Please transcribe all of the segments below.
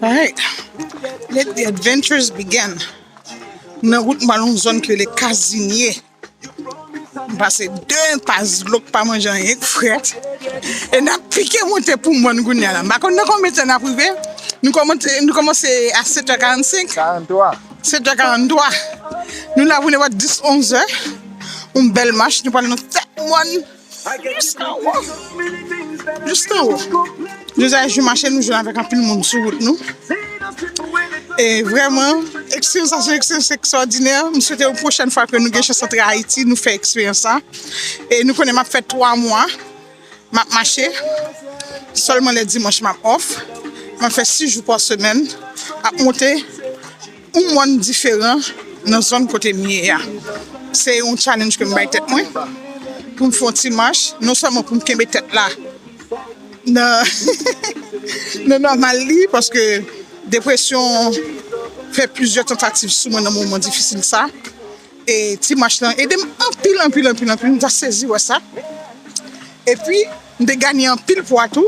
Alright, let the adventures begin! M nan wout m al yon zòn ki rele Kazinye. M pase 2 enpas dlo k pa manje anyen k frèt e n ap pike monte pou mòn kounye a la. M pa konn nan konbyen tan n ap rive, nou kòmanse nou kòmanse a 7 è 45, 7 è 43, nou la pou nepòt 10, 11 è, yon bèl mach, nou pral nan tèt mòn. Yes nan wo! Yes nan wo! Nou zay jou mache nou jwenn avèk anpil moun sou wout nou. E vrèman, eksperyans sa se yon eksperyans ekstwòdinè. M swete yon pwochèn fwa ke nou gen chans antre Ayiti, nou fè eksperyans sa. E nou konnen m ap fè 3 mwa, m ap mache. Sèlman lè dimanch m ap off. M ap fè 6 jou pa semèn, ap monte. Yon mòn diferan nan zòn kote m ye a. Se yon challenge ke m bay tèt mwen pou m fè yon ti mach, non sèlman pou m kenbe tèt la nan nòmal li, paske depresyon fè plizyè tantativ sou mwen nan moman difisil sa. E ti mach lan ede m anpil, anpil, anpil, anpil. M ta sezi wè sa. E pi, m te ganye anpil pwa tou.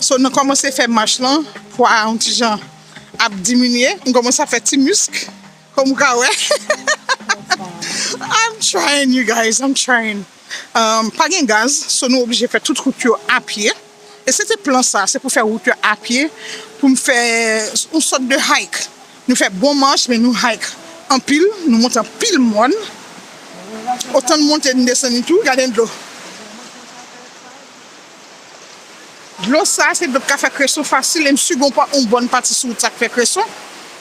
So, nan kòmanse fè mach lan, pwa a yon ti jan. ap diminye m komanse ap fè ti misk kòm ou ka wè I'm trying you guys I'm trying pa gen gaz so nou oblije fè tout wout yo a pye e se te plan sa se pou fè wout yo a pye pou m fè yon sòt de hike nou fè bon mach men nou hike anpil nou monte anpil mòn otan n monte n desann tou gade dlo. Dlo sa a se dlo k ka fè kreson fasil e m si gen yon bon pati sou wout sa k fè kreson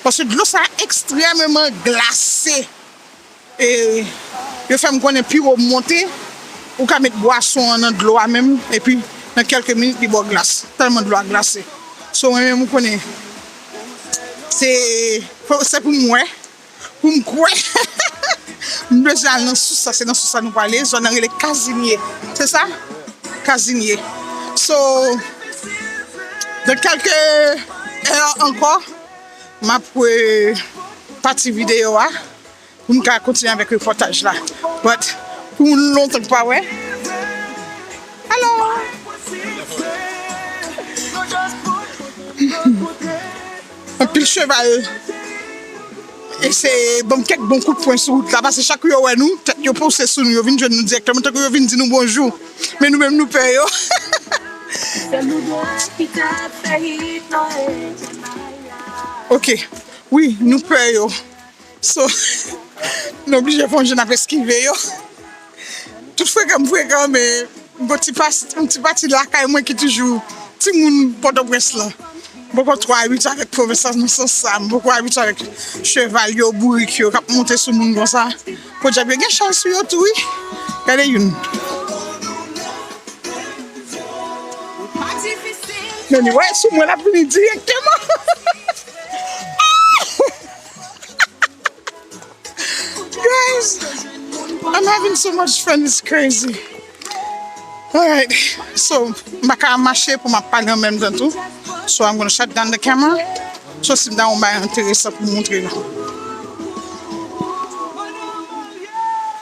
paske dlo sa a ekstrèmeman glase e yo fè m konnen pi wo m monte ou ka met bwason an nan dlo a menm epi nan kèlke minit li ba w glas tèlman dlo a glase so mwen menm ou konnen se pou m wè. Pou m kwè m bezwen al nan sous la se nan sous la nou prale zòn nan rele kazimye se sa kazimye so nan kelke è ankò map re pati video a pou m ka kontinye avèk repòtaj la but pou moun lontan ki pa wè alò. Anpil cheval eseye ban m kèk bon kout pwen sou wout la pase chak yo wè nou, tèt yo pouse sou nou, yo vin jwenn nou dirèkteman tankou yo vin di nou bonjou men nou menm nou pè yo. Ok wi nou pè yo. So nou oblije fon jan ap eskive yo. Tout frekan m frekan men m gen yon ti pati lakay mwen ki toujou timoun Pòtoprens lan. M poko twò abitye avèk pwovensan nan sans sa. M poko abitye avèk cheval yo, bourik yo k ap monte sou moun konsa. Podyab yo gen chal sou yo tou wi. Gade youn. Men li wè sou mwen l ap vini direkteman. Guys, I'm having so much fun, it's crazy. Alright, so m pa ka mache pou m ap pale an menm tan tou. So I'm gonna shut down the camera. So si m ta yon bay enteresan pou m montre nou.